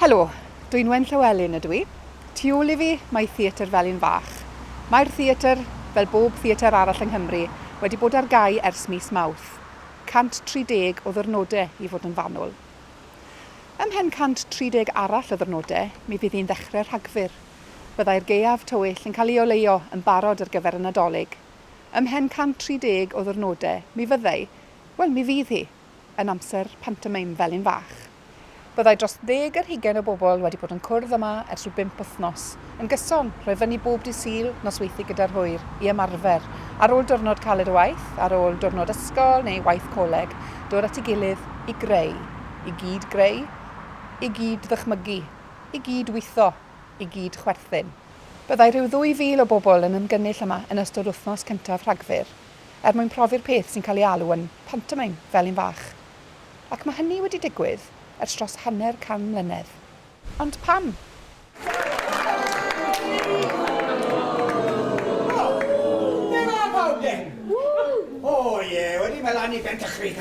Helo, dwi'n Wen Llywelyn ydw i. Tu ôl i fi mae Theatr Felin Fach. Mae'r theatr, fel bob theatr arall yng Nghymru, wedi bod ar gau ers mis Mawrth. 130 o ddyrnodau i fod yn fanwl. Ymhen 130 arall o ddyrnodau, mi fydd hi'n ddechrau Rhagfyr. Byddai'r gaeaf tywyll yn cael ei oleuo yn barod ar gyfer y Nadolig. Ymhen 130 o ddyrnodau, mi fyddai, wel, mi fydd hi, yn amser pantomeim fel un fach. Byddai dros ddeg ar hugain o bobl wedi bod yn cwrdd yma ers rhyw bump wythnos, yn gyson, rhoi fyny bob dydd Sul, nosweithiau gyda'r hwyr, i ymarfer. Ar ôl diwrnod caled o waith, ar ôl diwrnod ysgol neu waith coleg, dod at ei gilydd i greu, i gyd-greu, i gyd-ddychmygu, i gyd-weithio, i gyd-chwerthin. Byddai rhyw 2,000 o bobl yn ymgynnull yma yn ystod wythnos cyntaf Rhagfyr, er mwyn profi'r peth sy'n cael ei alw yn 'pantomeim fel un fach'. Ac mae hynny wedi digwydd ers dros hanner can mlynedd. Ond pam? Dyna pawb den! O ie, wedi maelanu ben Dychryn!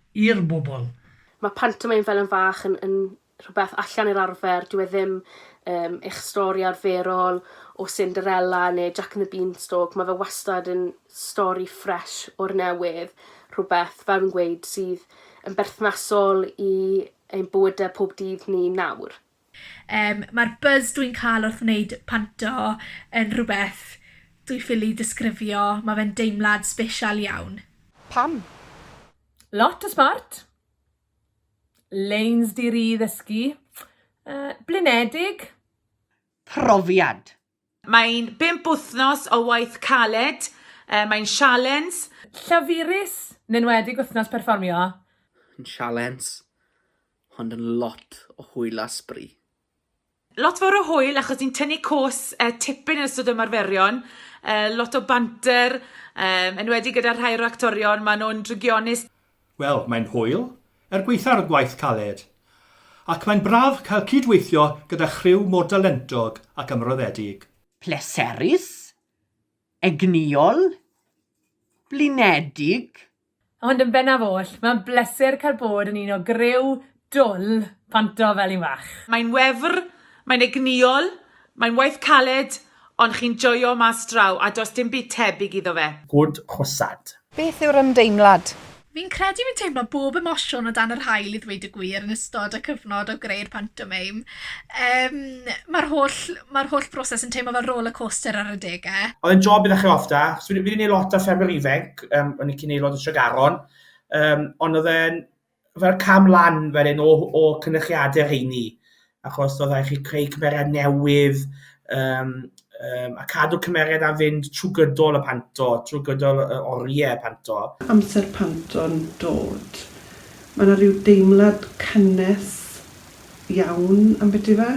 i'r bobl. Mae pantomeim fel yn fach yn yn rhywbeth allan i'r arfer, dyw e ddim yym eich stori arferol o Cinderella neu Jack and the Beanstalk, mae fe wastad yn stori ffresh o'r newydd, rhywbeth, fel fi'n gweud, sydd yn berthnasol i ein bywyde pob dydd ni nawr. Yym, mae'r buzz dwi'n cael wrth wneud panto yn rhywbeth dwi ffili disgrifio, mae fe'n deimlad sbesial iawn. Pam? Lot o sbort, leins di-ri ddysgu, yy, blinedig. Profiad! Mae'n bump wythnos o waith caled, mae'n sialens. Llafurus, yn enwedig wythnos perfformio. Yn sialens, ond yn lot o hwyl a sbri. Lot fawr o hwyl achos ni'n tynnu cos tipyn yn ystod ymarferion, lot o banter, enwedig gyda'r rhai o'r actorion, maen nhw'n drygionus. Wel, mae'n hwyl, er gwaetha'r y gwaith caled, ac mae'n braf cael cyd-weithio gyda chriw mor dalentog ac ymroddedig. Pleserus, egnïol, blinedig. Ond yn bennaf oll, mae'n bleser cael bod yn un o griw Dwl, panto fel un fach. Mae'n wefr, mae'n egnïol, mae'n waith caled, ond chi'n joio mas draw, a does dim byd tebyg iddo fe. Good Hosad. Beth yw'r ymdeimlad? Fi'n credu fi'n teimlo bob emosiwn o dan yr haul i ddweud y gwir yn ystod y cyfnod o greu'r pantomeim. Yym mae'r holl mae'r holl broses yn teimlo fel roller coaster ar adege. Oedd e'n job idda chi off da, achos fi wedi neud lot ar ffermio ifanc, yym o'n i'n cyn aelod o Tregaron, yym ond oedd e'n fel cam lan fel un o, o cynnychiadau rheini, achos oedd rhaid chi creu cymeriad newydd um, um, a cadw cymeriad am fynd trwy gydol y panto, trwy gydol y oriau panto. Amser panto'n dod. Mae yna rhyw deimlad cynnes iawn am beti fe.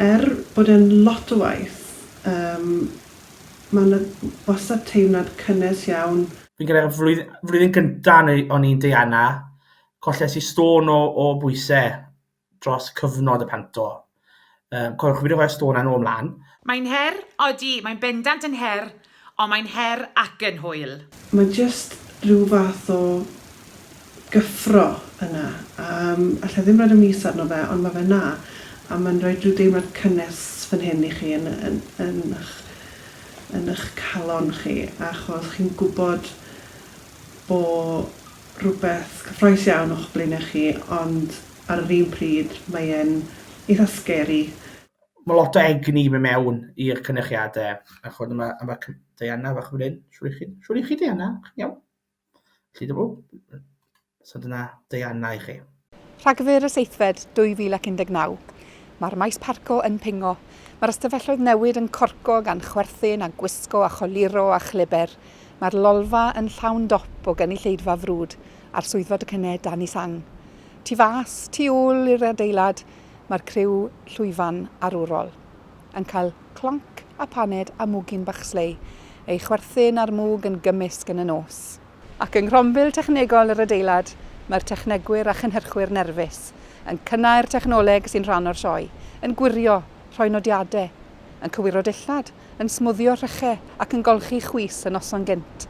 Er bod e'n lot o waith, um, mae yna wastad teimlad cynnes iawn. fi'n credu y flwydd- flwyddyn gynta neu o'n i'n deiana, colles i stôn o o bwyse dros cyfnod y panto. Yym cofiwch fi 'di rhoi'r stôn 'na nôl mlan. Mae'n her, odi, mae'n bendant yn her, ond mae'n her ac yn hwyl. Mae jyst rhyw fath o gyffro yna. Yym, alla i ddim roid y mis arno fe, ond ma' fe 'na, a ma'n roid rhyw deimlad cynnes fan hyn i chi yn yn yn ych yn ych calon chi, achos chi'n gwbod bo' rwbeth cyffrous iawn o'ch blaenau chi, ond ar yr un pryd mae e'n eitha scary. Ma' lot o egni myn' mewn i'r cynyrchiade, a ch'mod a ma' a ma' cy- Diana fach fan 'yn, shwr 'ych chi? Shwr 'ych chi Diana? Chi'n iawn? Felly, o, so dyna Diana i chi. Rhagfyr y seithfed 2019. Mae'r maes parco yn pingo. Mae'r ystafelloedd newid yn corco gan chwerthin a gwisgo a choluro a chlyber. Mae'r lolfa yn llawn dop o gynulleidfa frwd a'r swyddfa docynnau dan ei sang. Tu fas, tu ôl i'r adeilad, mae'r criw llwyfan arwrol. yn cael clonc a phaned a mwgyn bach slei, ei chwerthin a'r mwg yn gymysg yn y nos. Ac yng nghronfil technegol yr adeilad, mae'r technegwyr a chynhyrchwyr nerfus yn cynnau'r technoleg sy'n rhan o'r sioe, yn gwirio, rhoi nodiadau, yn cywiro dillad, yn smwddio rhychau ac yn golchi chwys y noson gynt.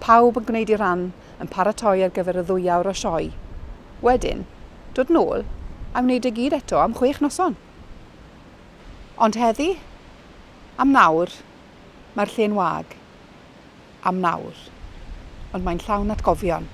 Pawb yn gwneud ei ran, yn paratoi ar gyfer y ddwy awr o sioe. Wedyn, dod nôl a wneud e gyd eto am chwech noson! Ond heddi? Am nawr, mae'r lle'n wag. Am nawr. Ond mae'n llawn atgofion.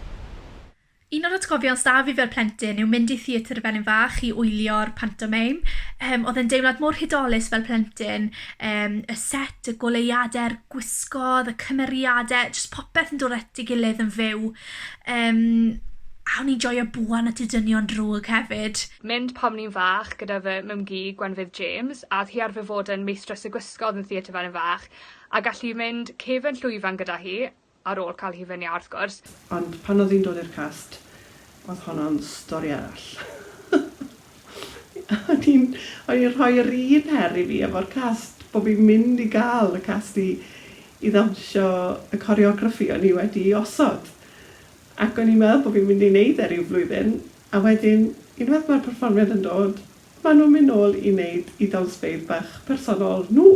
Un o'r atgofion s'da fi fel plentyn yw mynd i Theatr y Felin Fach i wylio'r pantomeim. Yym, oedd e'n deimlad mor hudolus fel plentyn. Yym, y set, y goleuadau'r gwisgoedd, y cymeriadau, jyst popeth yn dod at ei gilydd yn fyw. Yym, a o'n i'n joio buan at y dynion drwg hefyd. mynd pan o'n i'n fach gyda fy mumgu Gwenfydd James a o'dd hi arfer fod yn meistres y gwisgo yn y theatr fan yn fach a gallu fi mynd cefn llwyfan gyda hi, ar ôl ca'l hufen iâ wrth gwrs. Ond pan o'dd hi'n dod i'r cast o'dd honno'n stori arall. O'n i'n o'n i'n rhoi yr un her i fi efo'r cast bo' fi'n mynd i ga'l y cast i i ddawnsio y coreograffi o'n i wedi 'i osod ac o'n i'n meddwl bo' fi'n mynd i neud e ryw flwyddyn A wedyn, unwaith mae'r perfformiad yn dod, maen nhw'n mynd nôl i wneud eu dawnsfeydd bach personol nhw!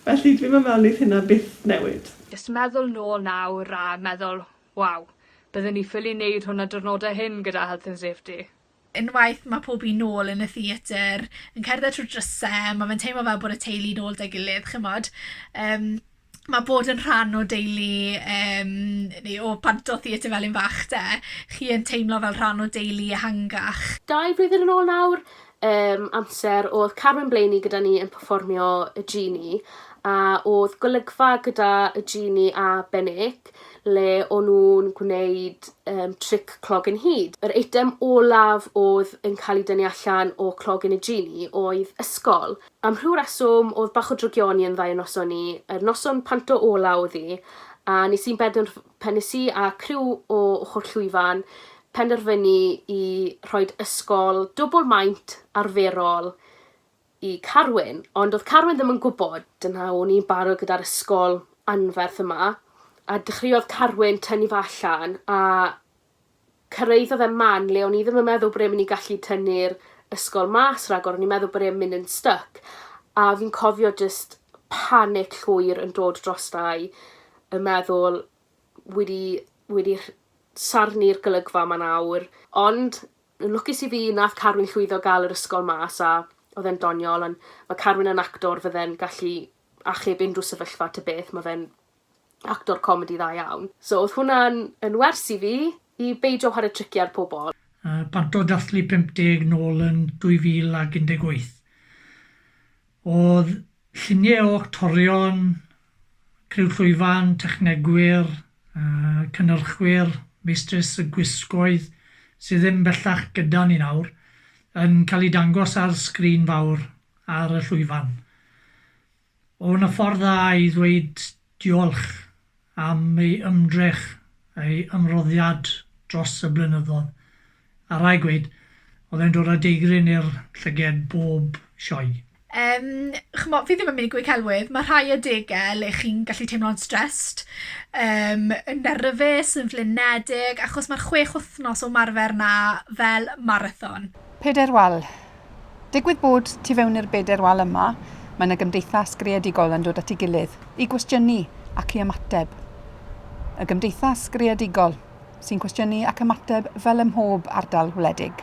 Felly, dwi'm yn meddwl wneith hynna byth newid. Jyst meddwl nôl nawr a meddwl, 'Waw, bydden ni ffili wneud hwn y diwrnodau hyn gyda Health and Safety. Unwaith mae pob un nôl yn y theatr, yn cerdded trwy'r drysau, mae fe'n teimlo fel bod y teulu'n ôl 'da'i gilydd, chimod. Yym. ma' bod yn rhan o deulu yym neu o bant o Theatr Felin Fach de, chi yn teimlo fel rhan o deulu ehangach. Dau flwyddyn yn ôl nawr yym amser o'dd Carmen Blaney gyda ni yn perfformio y Genie a o'dd golygfa gyda y Genie a Benik le o'n nw'n gwneud yym tric clog yn hud. Yr eitem olaf o'dd yn ca'l 'i dynnu allan o clogyn y Genie oedd ysgol. Am rhyw reswm o'dd bach o drygioni yn ddau o noson ni, yr noson panto ola o'dd 'i, a nes i'n benderf- pe- nes i a criw o ochor llwyfan penderfynu i rhoid ysgol dwbwl maint arferol i Carwyn, ond o'dd Carwyn ddim yn gwbod, dyna o'n i'n barod gyda'r ysgol anferth yma, a dechreuodd Carwyn tynnu fe allan, a Cyrhaeddodd e man le o'n i ddim yn meddwl bod e'n myn' i gallu tynnu'r ysgol mas ragor o'n i'n meddwl bod e'n myn' yn styc a fi'n cofio jyst panic llwyr yn dod drosta-i yn meddwl wi 'di wi 'di rh- sarni'r golygfa 'ma nawr ond yn lwcus i fi nath Carwyn llwyddo ga'l yr ysgol mas a odd e'n doniol on' ma' Carwyn yn actor fydde'n gallu achub unryw sefyllfa ta beth ma' fe'n actor comedi dda iawn. So odd hwnna'n yn wers i fi i beidio whare tricie ar pobol. Bant o ddathlu 50 nôl yn 2018. Odd llunie o actorion, criw llwyfan, technegwyr, cynyrchwyr, meistres y gwisgoedd, sy ddim bellach gyda ni nawr, yn ca'l 'u dangos ar sgrin fawr ar y llwyfan. O, 'na ffordd dda i ddweud diolch am ei ymdrech, ei ymroddiad dros y blynyddodd. A rhaid gweud, oedd e'n dod â deigryn i'r llyged bob sioe. Yym, ch'mo', fi ddim yn mynd i gweud celwydd, ma' rhai adege le chi'n gallu teimlo'n stressed, yym, yn nerfus, yn flinedig, achos ma'r chwech wythnos o ymarfer 'na fel marathon. Pedair wal. Digwydd bod, tu fewn i'r bedair wal yma, mae yna gymdeithas greadigol yn dod at ei gilydd i gwestiynu ac i ymateb. Y gymdeithas greadigol sy'n cwestiynu ac ymateb fel ym mhob ardal wledig.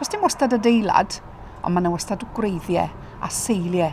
Does dim wastad adeilad, ond mae yna wastad gwreiddiau a seiliau.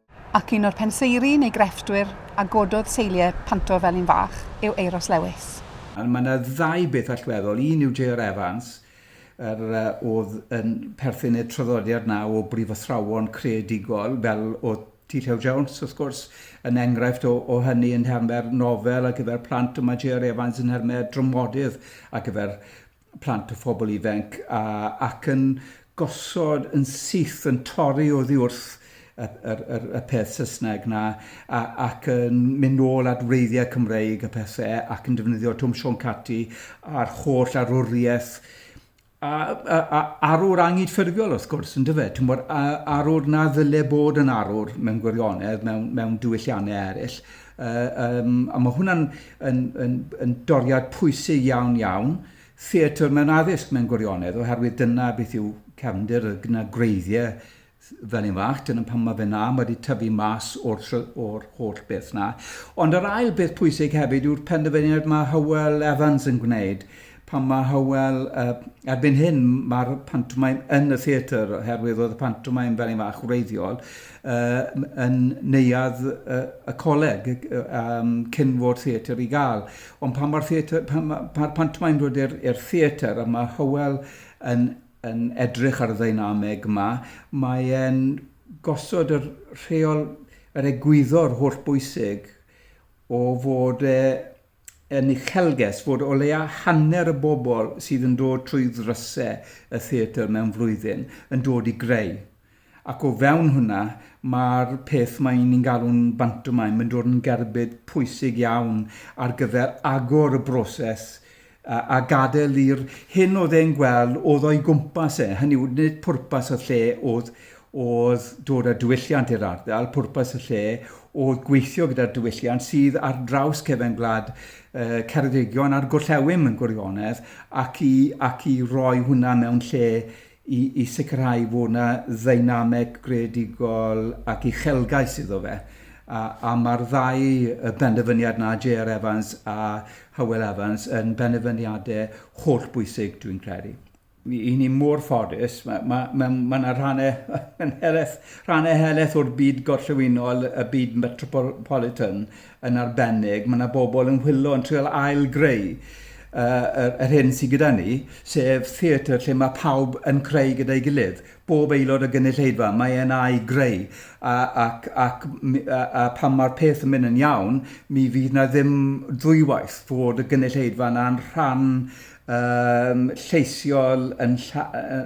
Ac un o'r penseiri neu grefftwyr a gododd seiliau Panto fel un fach yw Euros Lewis. Ond mae 'na ddau beth allweddol, un yw J.R. Evans, yr oedd yn perthyn i'r traddodiad 'na o brifathrawon creadigol, fel oedd T. Llew Jones, wrth gwrs, yn enghraifft o o hynny yn nhermau'r nofel ar gyfer plant, ond mae J.R. Evans yn nhermau dramodydd ar gyfer plant a phobl ifainc a ac yn gosod yn syth yn torri oddi wrth y yr yr y peth Saesneg 'na a ac yn mynd nôl at wreiddiau Cymreig a pethe ac yn defnyddio Twm Siôn Cati a'r holl arwriaeth a a a arwr angydffurfiol wrth gwrs yndyfe t'mod a arwr na ddyle bod yn arwr mewn gwirionedd mewn mewn diwyllianne eryll Yym, a mae hwnna'n yn, yn, yn doriad pwysig iawn, iawn, theatr mewn addysg mewn gwirionedd, oherwydd dyna beth yw cefndir, y gyna gwreiddiau fel un fach, dyna pan mae fe na, mae wedi tyfu mas o'r, or holl beth na. Ond yr ail beth pwysig hefyd yw'r penderfyniad mae Hywel Evans yn gwneud, Pan mae Hywel, yy, erbyn hyn mae'r pantomaim yn y theatr oherwydd oedd y pantomaim fel un fach wreiddiol uh, yn neuad uh, y coleg um, cyn fod theatr i gael. Ond pan mae'r theatr, pan mae'r ma pantomaim dod i'r theatr a mae Hywel yn, yn edrych ar y ddynameg yma, mae'n gosod yr rheol, yr egwyddor holl bwysig o fod e yn uchelgais fod o leia' hanner y bobl sydd yn dod trwy ddrysau y theatr mewn flwyddyn yn dod i greu, ac o fewn hwnna mae'r peth mae ni'n galw'n bantomime yn dod yn gerbyd pwysig iawn ar gyfer agor y broses a gadael i'r hyn oedd e'n gweld oedd o'i gwmpas e, hynny yw nid pwrpas y lle oedd oedd dod â diwylliant i'r ardal, pwrpas y lle oedd gweithio gyda'r diwylliant sydd ar draws cefen gwlad Ceredigion a'r Gorllewin yn gwirionedd ac i, ac i roi hwnna mewn lle i, i sicrhau fod yna ddeinameg greadigol ac uchelgais iddo fe. A, a mae'r ddau benderfyniad na J.R. Evans a Hywel Evans yn benderfyniadau holl bwysig, dwi'n credu. Y'n ni mor ffodus, mae ma, ma, ma 'na rhannau yn helaeth, rhannau helaeth o'r byd gorllewinol, y byd metropolitan yn arbennig, mae 'na bobl yn hwyllo, yn trio ail-greu uh, yr, yr hyn sydd gyda ni, sef theatr lle mae pawb yn creu gyda'i gilydd. Bob aelod o gynulleidfa, mae e'n a'i greu, a, ac, ac, a, a pan mae'r peth yn mynd yn iawn, mi fydd na ddim ddwywaith fod y gynulleidfa yna'n rhan yn lleisiol, yn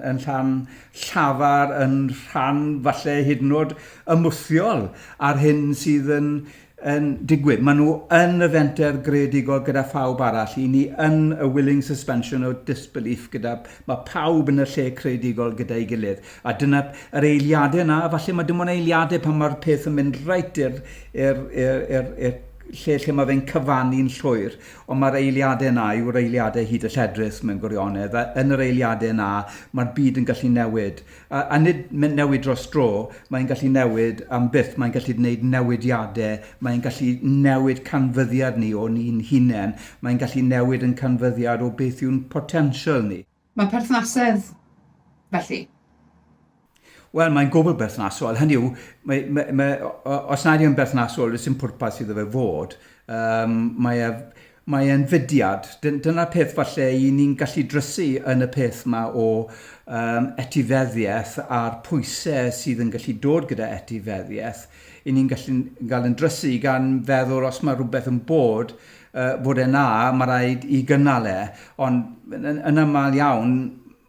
yn llan llafar, yn rhan falle hyd yn oed ymwthiol â'r hyn sydd yn yn digwydd. Maen nhw yn y fenter greadigol gyda phawb arall. I ni yn y willing suspension o disbelief gyda... Mae pawb yn y lle creadigol gyda'i gilydd. A dyna yr eiliadau yna, a falle mae dim ond eiliadau pan mae'r peth yn mynd reit i'r i'r i'r i'r i'r lle lle mae fe'n cyfannu'n llwyr. Ond mae'r eiliadau yna yw'r eiliadau hyd y lledrith mewn gwirionedd, a yn yr eiliadau yna mae'r byd yn gallu newid. A, a nid newid dros dro, mae'n gallu newid am byth, mae'n gallu gwneud newidiadau, mae'n gallu newid canfyddiad ni o'n ni'n hunain, mae'n gallu newid yn canfyddiad o beth yw'n potensial ni. Mae perthnasedd, felly? Wel, mae'n gwbl berthnasol. Hynny yw, mae, mae, mae, os nad yw'n berthnasol, does dim pwrpas iddo fe fod. Um, mae e, mae e'n fudiad. Dyna'r peth falle i ni'n gallu drysu yn y peth yma o um, etifeddiaeth a'r pwysau sydd yn gallu dod gyda etifeddiaeth. I ni'n gallu gael yn drysu gan feddwl os mae rhywbeth yn bod, bod e'n dda, mae rhaid i gynnal e, ond yn aml iawn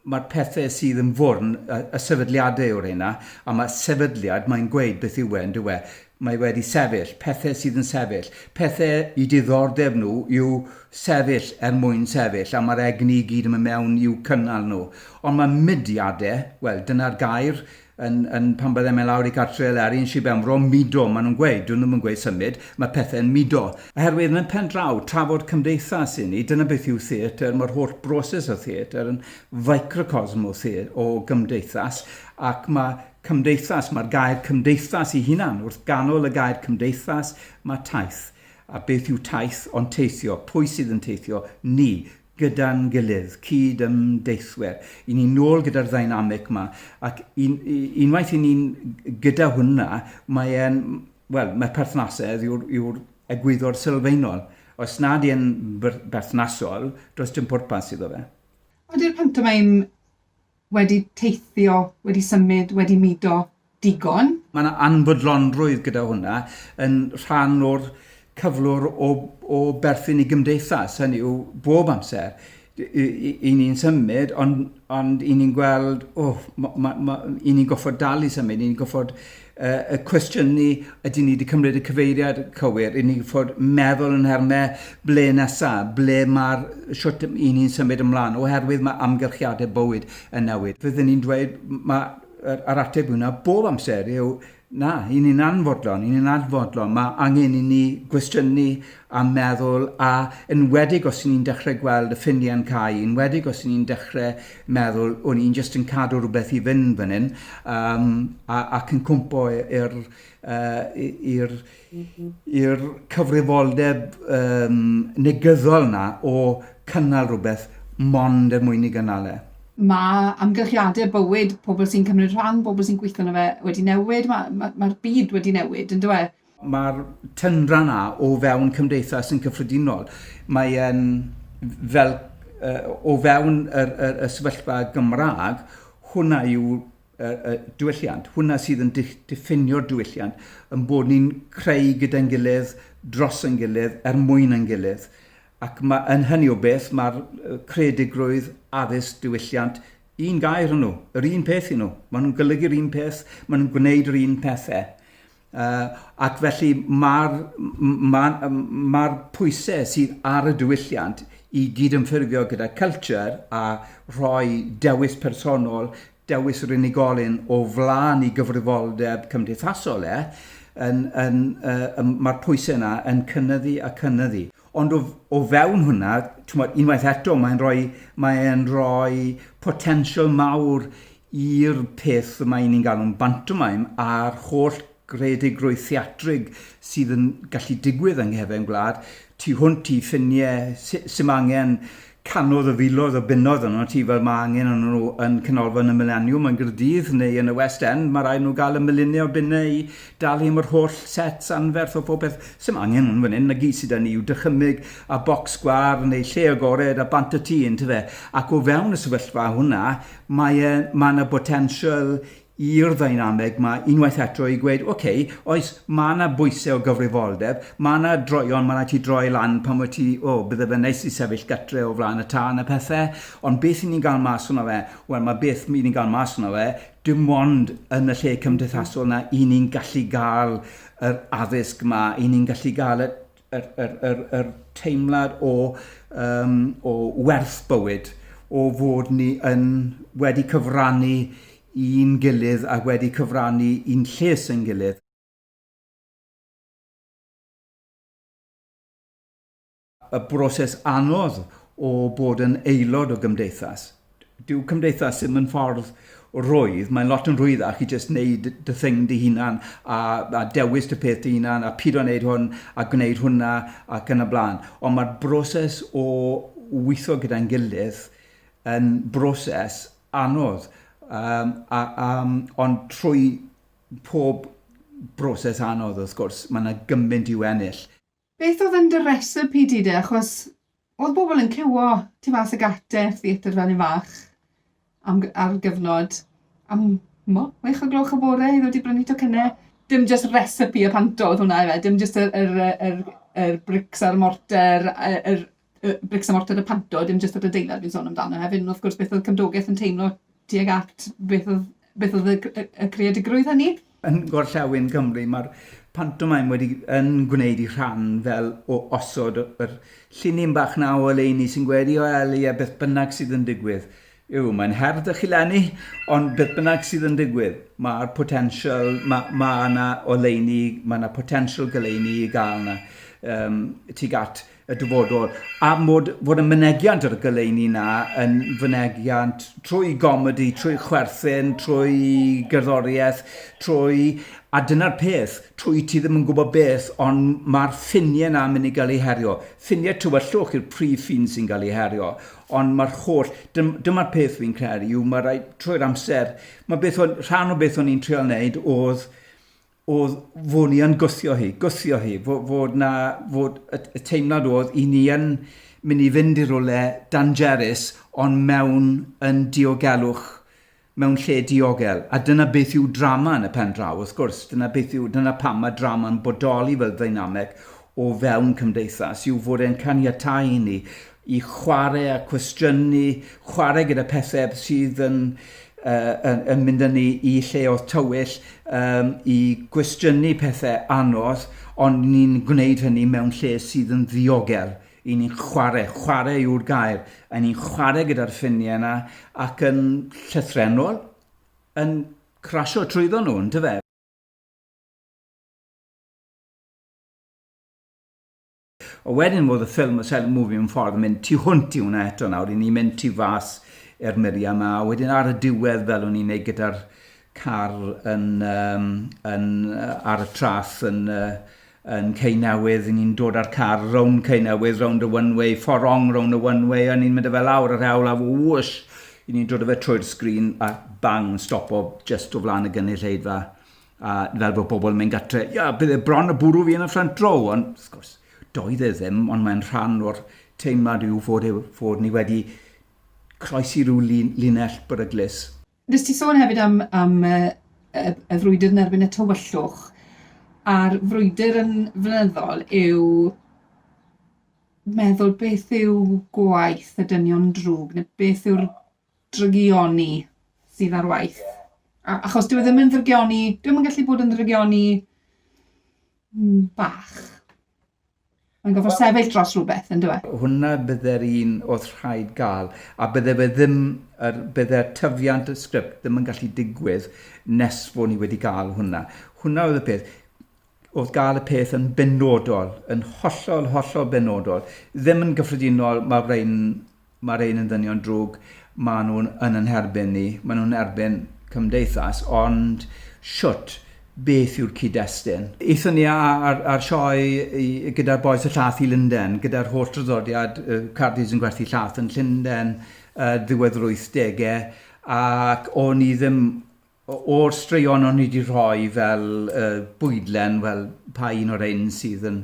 mae'r pethau sydd yn fwrn, y sefydliadau yw'r rheina, a mae sefydliad, mae'n gweud beth yw e, yn dywe. Mae wedi sefyll, pethau sydd yn sefyll. Pethau i diddordeb nhw yw sefyll er mwyn sefyll, a mae'r egni i gyd yn mynd mewn i'w cynnal nhw. Ond mae mudiadau, wel, dyna'r gair, Yn, yn, pan byddem yn lawr i gartre Eleri yn Sir Benfro, mudo, maen nhw'n gweud, dyn nhw ddim yn gweud symud, mae pethau'n mudo. Oherwydd, yn y pen draw, trafod cymdeithas i ni, dyna beth yw theatr, mae'r holl broses o theatr yn ficrocosm o, the, o gymdeithas, ac mae cymdeithas, mae'r gair cymdeithas i hunan, wrth ganol y gair cymdeithas, mae taith. A beth yw taith, ond teithio, pwy sydd yn teithio? Ni, gyda'n gilydd, cyd-ymdeithwyr, i ni nôl gyda'r ddynamic yma, ac un, unwaith i ni'n gyda hwnna, mae e'n, wel, mae perthnasedd yw'r yw egwyddor sylfaenol. Os nad yw'n berthnasol, does dim pwrpas iddo fe. Ydy'r pantomeim wedi teithio, wedi symud, wedi mudo digon. Mae 'na anfodlonrwydd gyda hwnna yn rhan o'r cyflwr o o berthyn i gymdeithas, hynny yw bob amser y- y- y- 'yn ni'n symud ond ond 'yn ni'n gweld, o, ma- ma- ma- 'yn ni'n gorfod dal i symud, 'yn ni'n gorfod uh, y cwestiwn ni, ydy ni wedi cymryd y cyfeiriad cywir, i ni fod meddwl yn hermau ble nesaf, ble mae'r siwt i ni'n symud ymlaen, oherwydd mae amgylchiadau bywyd yn newid. Fyddwn ni'n dweud, mae'r ar ateb hwnna bob amser yw, na, i ni'n anfodlon, i ni'n anfodlon, mae angen i ni gwestiynu a meddwl, a enwedig os 'y ni'n dechrau gweld y ffiniau yn cau, enwedig os 'y ni'n dechrau meddwl, o'n i'n jyst yn cadw rhywbeth i fynd fan hyn, um, a, ac yn cwmpo i'r uh, i'r cyfrifoldeb um, negyddol na o cynnal rhywbeth mond er mwyn i gynnal e. Mae amgylchiadau bywyd pobl sy'n cymryd rhan, pobl sy'n gweithio na fe wedi newid, mae'r ma, ma byd wedi newid, yn dweud. Mae'r tyndra 'na o fewn cymdeithas yn cyffredinol. Mae e'n fel o fewn yr, yr, y sefyllfa Gymraeg, hwnna yw y, y diwylliant. Hwnna sydd yn diffinio'r diwylliant, yn bod ni'n creu gyda'n gilydd, dros yn gilydd, er mwyn yn gilydd. Ac mae, yn hynny o beth, mae'r creadigrwydd, addysg, diwylliant, un gair yn nhw, yr un peth yn nhw. Maen nhw'n golygu'r un peth, maen nhw'n gwneud yr un pethau. Uh, ac felly mae'r ma, ma pwysau sydd ar y diwylliant i gydymffurfio gyda culture a rhoi dewis personol, dewis yr unigolyn o flaen i gyfrifoldeb cymdeithasol e, yn, yn, uh, mae'r pwysau yna yn cynnyddu a cynnyddu. Ond o o fewn hwnna, t'mod, unwaith eto, mae'n rhoi mae e'n rhoi potensial mawr i'r peth y mae ni'n galw'n bantomaim a'r holl greadigrwydd theatrig sydd yn gallu digwydd yng nghefn gwlad, tu hwnt i ffiniau, s- 'sim angen canodd y filoedd o bunnoedd yno ti fel mae angen yno nhw yn Canolfan y Mileniwm yn Gaerdydd neu yn y West End, mae rhaid nhw gael y miliynau o bunnau i dalu am yr holl sets anferth o phob peth, s'im angen hwn fan hyn, 'na gyd sy 'da ni yw dychymyg a bocs gwar neu lle agored a bant a ti yntyfe ac o fewn y sefyllfa hwnna mae e, mae 'na botensial i'r ddeinameg 'ma unwaith eto i gweud, ok, oes, ma' 'na bwyse o gyfrifoldeb, ma' 'na droion, ma' raid ti droi lan pan wyt ti, o, bydde fe'n neis i sefyll gytre o flaen y tân a pethe, ond beth 'yn ni'n ga'l mas ohono fe? Wel, ma' beth 'yn ni'n ga'l mas ohono fe, dim ond yn y lle cymdeithasol 'na 'yn ni'n gallu ga'l yr addysg 'ma, 'yn ni'n gallu ga'l y Yr, yr, yr, yr teimlad o, um, o werth bywyd, o fod ni yn wedi cyfrannu i'n gilydd a wedi cyfrannu i'n lles yn gilydd. y broses anodd o bod yn aelod o gymdeithas. Dyw cymdeithas ddim yn ffordd rhwydd, mae'n lot yn rhwyddach i jyst wneud dy thing dy hunan a, a dewis dy peth dy hunan a pido wneud hwn a gwneud hwnna ac yn y blaen. Ond mae'r broses o weithio gyda'n gilydd yn broses anodd, um, a, a, ond trwy pob broses anodd wrth gwrs, mae yna gymaint i'w ennill. Beth oedd yn dy recipe di de? Achos oedd bobl yn cywo tu fas y gate, theatr fel yn fach, am, ar gyfnod, am mo, wech o gloch y bore i ddod i brynu tocynnau. Dim just recipe y panto oedd hwnna efe, dim just yr, yr, yr, yr brics a'r morter, yr, yy brics a mortar y Panto, dim jyst yr adeilad fi'n sôn amdano hefyd, ond wrth gwrs beth oedd cymdogaeth yn teimlo tuag at beth oedd beth oedd y c- y creadigrwydd hynny. Yn gorllewin Cymru mae'r pantomaim wedi yn gwneud ei rhan fel o osod yr llinyn bach 'na o oleuni sy'n gweddïo Eli a beth bynnag sydd yn digwydd. Yw, mae'n her 'da chi 'leni, ond beth bynnag sydd yn digwydd, mae'r potensial, ma- ma' 'na oleuni, ma' 'na potensial goleuni i gael 'na yym tuag at y dyfodol, a mod fod y mynegiant ar y goleuni 'na yn fynegiant trwy gomedi, trwy chwerthin, trwy gerddoriaeth, trwy... a dyna'r peth, trwy ti ddim yn gwybod beth, ond mae'r ffiniau 'na yn mynd i gael eu herio. Ffiniau tywyllwch yw'r prif ffin sy'n cael ei herio. Ond mae'r holl... dym- dyma'r peth fi'n credu yw mae rhaid trwy'r amser... Mae beth o'n... rhan o beth o'n i'n treial wneud oedd oedd fod ni yn gwthio hi, gwthio hi, fo- fod 'na... fod y y teimlad oedd 'y ni yn mynd i fynd i rywle dangerous ond mewn yn diogelwch. mewn lle diogel, a dyna beth yw drama yn y pen draw, wrth gwrs, dyna beth yw, dyna pam mae drama'n bodoli fel ddeinameg o fewn cymdeithas, yw fod e'n caniatáu i ni i chwarae a cwestiynu, chwarae gyda pethau sydd yn, uh, yn, yn mynd â ni i lleoedd tywyll, um, i gwestiynu pethau anodd, ond ni'n gwneud hynny mewn lle sydd yn ddiogel Y'n ni'n chwarae, chwarae yw'r gair, y'n ni'n chwarae gyda'r ffiniau yna ac yn llythrenol yn crasio trwyddo nhw, yn dyfe? A wedyn fod y ffilm, y silent movie yn ffordd yn mynd tu hwnt i hwnna eto nawr, i ni mynd tu fas i'r muriau yma, a wedyn ar y diwedd fel o'n i'n neud gyda'r car yn, um, yn, uh, ar y tras yn, uh, yn Cei Newydd, ni'n dod â'r car rownd Cei Newydd, rownd y one way, fforong rownd y one way, a ni'n mynd â fe lawr yr hewl, a wwsh, i ni'n dod â fe trwy'r sgrin, a bang, yn stopo just o flaen y gynulleidfa, a fel bod pobl yn mynd gatre, ia, bydd e bron y bwrw fi yn y ffrant row, ond, wrth gwrs, doedd e ddim, ond mae'n rhan o'r teimlad yw fod, e, fod ni wedi croesi rhyw lin, linell beryglus. Wnes ti sôn hefyd am am y y y frwydr yn erbyn y tywyllwch, a'r frwydr yn flynyddol yw meddwl beth yw gwaith y dynion drwg, neu beth yw'r drygioni sydd ar waith. A- achos dyw e ddim yn ddrygioni, dyw e ddim yn gallu bod yn ddrygioni mm, bach. Mae'n gorfod well, sefyll dros rhywbeth, yn dweud. Hwna bydde'r un oedd rhaid gael, a bydde fe ddim, er, bydde'r tyfiant y sgript ddim yn gallu digwydd nes fod ni wedi gael hwna. Hwna oedd y peth. Oedd gael y peth yn benodol, yn hollol, hollol benodol. Ddim yn gyffredinol, mae'r ein Mae'r rhain yn ddynion drwg, maen nhw yn yn herbyn ni, maen nhw'n erbyn cymdeithas, ond shwt, beth yw'r cyd-destun? Aethon ni ar ar sioe gyda'r bois y llath i Lunden, gyda'r holl draddodiad Cardydd yn gwerthu llath yn Llunden, ddiwedd yr wythdegau, ac o'n i ddim O'r straeon o'n i 'di rhoi fel yy bwydlen, wel, pa un o rhein sydd yn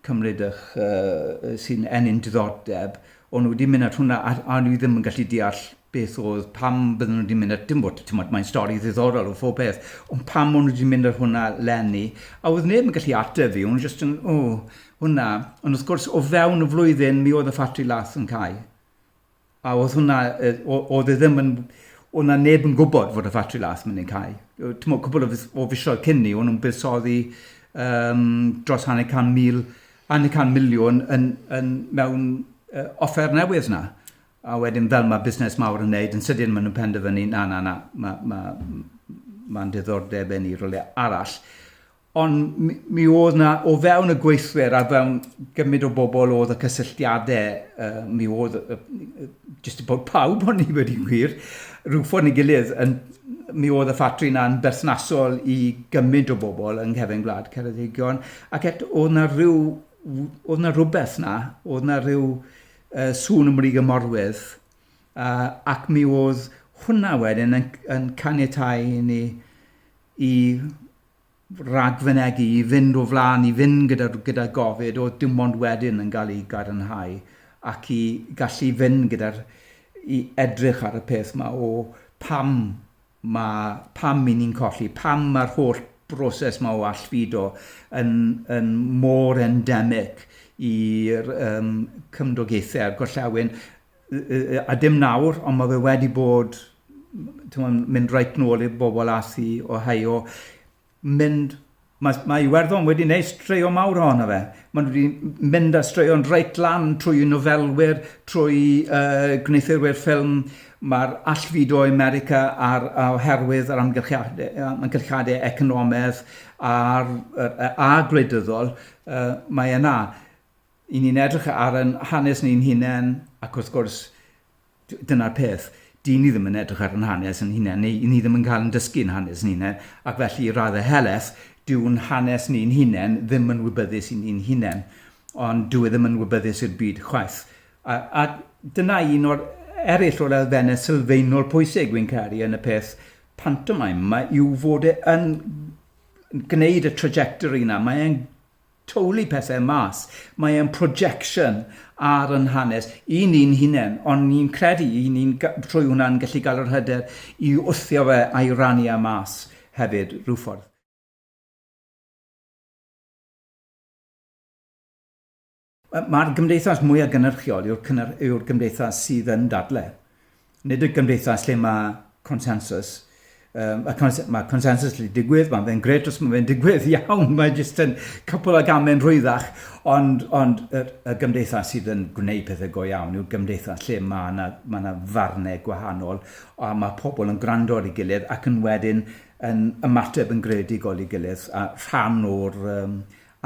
cymryd 'ych yy sy'n ennyn diddordeb, o'n nhw 'di mynd at hwnna a a o'n i ddim yn gallu deall beth o'dd, pam bydden nhw 'di mynd at dim ots, t'mod, mae'n stori ddiddorol o phob peth, ond pam o'n nhw 'di mynd ar hwnna 'leni, a o'dd neb yn gallu ateb fi, o'n nhw jyst yn, o, hwnna, ond wrth gwrs, o fewn y flwyddyn, mi oedd y ffatri lath yn cau. A oedd hwnna, oedd e ddim yn... Oedd na neb yn gwybod fod y ffatri las mynd i'n cau. Timo, cwbl o fisoedd cyn ni, o'n nhw'n buddsoddi um, dros hanner can mil, hanner can miliwn yn, yn mewn uh, offer newydd na. A wedyn fel mae busnes mawr yn neud, yn sydyn maen nhw'n penderfynu, na, na, na, mae'n ma, ma, ma diddordeb yn ei rolau arall. Ond mi mi oedd 'na o fewn y gweithwyr a fewn gymryd o bobl oedd y cysylltiadau yy mi oedd yy yy jyst y bod pawb o'n i wedi gwir rhyw ffordd neu gilydd yn mi oedd y ffatri 'na'n berthnasol i gymryd o bobl yng nghefn gwlad Ceredigion ac eto oedd 'na ryw w- oedd 'na rywbeth 'na oedd 'na ryw yy sŵn ym Mrîg y Morwyrdd yy ac mi oedd hwnna wedyn yn c- yn caniatáu i ni i ragfynegi i fynd o flaen, i fynd gyda, gyda gofid, oedd dim ond wedyn yn cael ei gadarnhau ac i gallu fynd gyda'r i edrych ar y peth yma o pam mae, pam i ni'n colli, pam mae'r holl broses yma o allfudo yn, yn mor endemic i'r um, cymdogaethau a'r gorllewin a dim nawr, ond mae fe wedi bod, timod, mynd reit nôl i'r bobl aeth i Ohio, mynd... Mae, mae Iwerddon wedi wneud straeon mawr ohono fe. Maen nhw wedi mynd â straeon reit lan trwy nofelwyr, trwy yy gwneuthurwyr ffilm, mae'r allfudo i America a'r a- oherwydd yr amgylchiade- yy amgylchiadau economaidd a'r yy a gwleidyddol, yy mae yna. 'y ni'n edrych ar ein hanes ni'n hunain, ac wrth gwrs, dyna'r peth, dyn ni ddim yn edrych ar ein hanes yn hunain, neu ni ddim yn cael yn dysgu yn hanes ni'n hunain, ac felly i raddau helaeth, dyw'n hanes ni'n hunain ddim yn wybyddus i ni'n hunain, ond dyw e ddim yn wybyddus i'r byd chwaith. A, a dyna un o'r eraill o'r elfennau sylfaenol pwysig fi'n caru yn y peth pantomaim, mae yw fod e yn gwneud y trajectory yna, mae e'n Tawlu pethau mas. Mae e'n projection ar yn hanes i ni'n hunain, ond ni'n credu i ni'n trwy hwnna'n gallu gael yr hyder i wthio fe a'i rannu e mas hefyd rhyw ffordd. Mae'r gymdeithas mwyaf gynhyrchiol yw'r cynnyr, yw'r gymdeithas sydd yn dadle. Nid y gymdeithas lle mae consensus. Um, a cons mae consensus lle digwydd, mae'n fe'n gret os mae'n fe'n digwydd iawn, mae jyst yn cwpl o gamen rhwyddach, ond, ond y, y gymdeithas sydd yn gwneud pethau go iawn yw'r gymdeithas lle mae yna ma na farnau gwahanol a mae pobl yn gwrando ar ei gilydd ac yn wedyn yn ymateb yn greadigol i gilydd a rhan o'r um,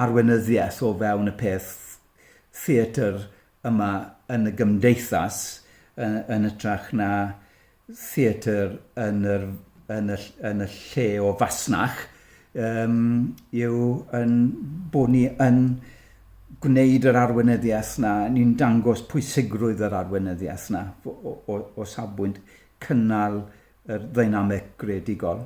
arweinyddiaeth o fewn y peth theatr yma yn y gymdeithas yn hytrach na theatr yn yr yn y yn y lle o fasnach yym yw ein bod ni yn gwneud yr arweinyddiaeth 'na, ni'n dangos pwysigrwydd yr arweinyddiaeth 'na o o o o safbwynt cynnal yr ddeinameg greadigol.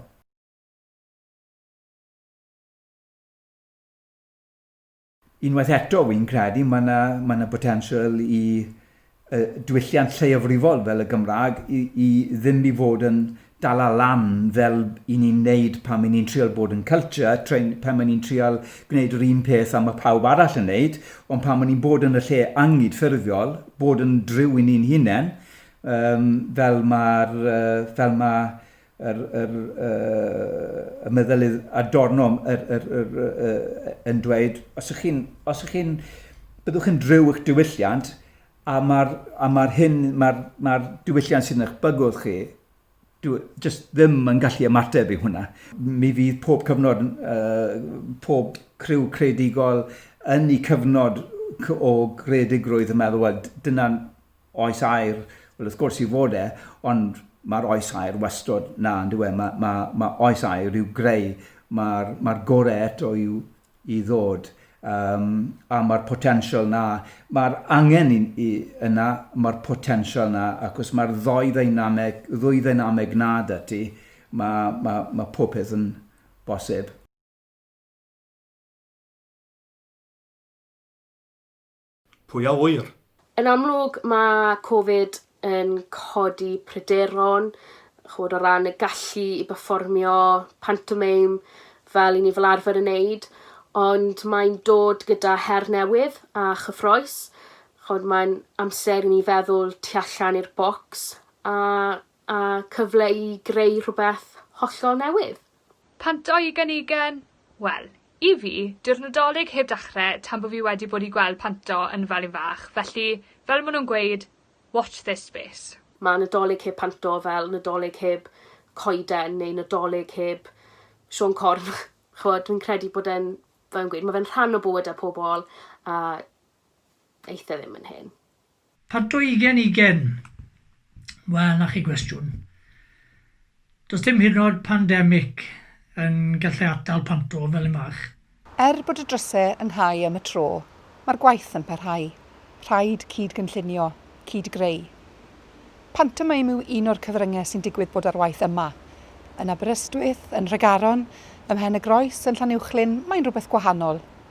Unwaith eto, fi'n credu mae yna, mae yna botensial i uh, diwylliant lleiafrifol fel y Gymraeg i, i ddim i fod yn dal lan fel i ni'n neud pan mae'n ni'n trial bod yn culture, train, pan mae'n ni'n trial gwneud yr un peth am y pawb arall yn neud, ond pan mae'n ni'n bod yn y lle angyd ffurfiol, bod yn driw i ni'n hunain, um, fel mae'r uh, fel mae yr, yr, uh, y meddylydd adornom yr, yr, yr, uh, yn dweud, os ych chi'n, os ych chi'n, byddwch yn drew eich diwylliant, a mae'r ma hyn, mae'r ma diwylliant sy'n eich bygwth chi, dwi, just ddim yn gallu ymateb i hwnna. Mi fydd pob cyfnod, uh, pob criw credigol yn ei cyfnod o gredigrwydd y meddwl, wel, dyna'n Oes aur, wel wrth gwrs i fod e, ond mae'r oes aur wastod 'na yn dyw e, mae, mae, mae oes aur i'w greu, mae'r, mae'r gorau eto i'w, i ddod, um, a mae'r potensial 'na, mae'r angen i, i, yna, mae'r potensial 'na, ac os mae'r ddoi ddynameg, ddwy ddynameg 'na da ti, mae, mae, mae pob peth yn bosib. Pwy a ŵyr? Yn amlwg, mae Covid yn codi pryderon, chimod, o ran y gallu i berfformio pantomeim fel 'yn ni fel arfer yn neud, ond mae'n dod gyda her newydd a chyffrous. Chimod, mae'n amser i ni feddwl tu allan i'r bocs a a cyfle i greu rhywbeth hollol newydd. Pam dau ugen ugen? Wel, i fi, dyw'r Nadolig heb dachre tan bo fi wedi bod i gweld Panto yn Felin Fach, felly, fel ma' nhw'n gweud, watch this space. Mae Nadolig heb Panto fel Nadolig heb coeden neu Nadolig heb Siôn Corn. Ch'mod, fi'n credu bod e'n, fel fi'n gweud, ma' fe'n rhan o bywydau pobl a aeth e ddim yn hen. Part o ugen ugen. Wel, na chi gwestiwn. Does dim hyd yn oed pandemic yn gallu atal panto fel y mach. Er bod y drysau yn nhau am y tro, mae'r gwaith yn parhau. Rhaid cyd-gynllunio, cyd-greu. Pantomeim yw un o'r cyfryngau sy'n digwydd bod ar waith yma. Yn Aberystwyth, yn Nhregaron, ym Mhen-y-groes, yn Llanuwchllyn, mae'n rhywbeth gwahanol.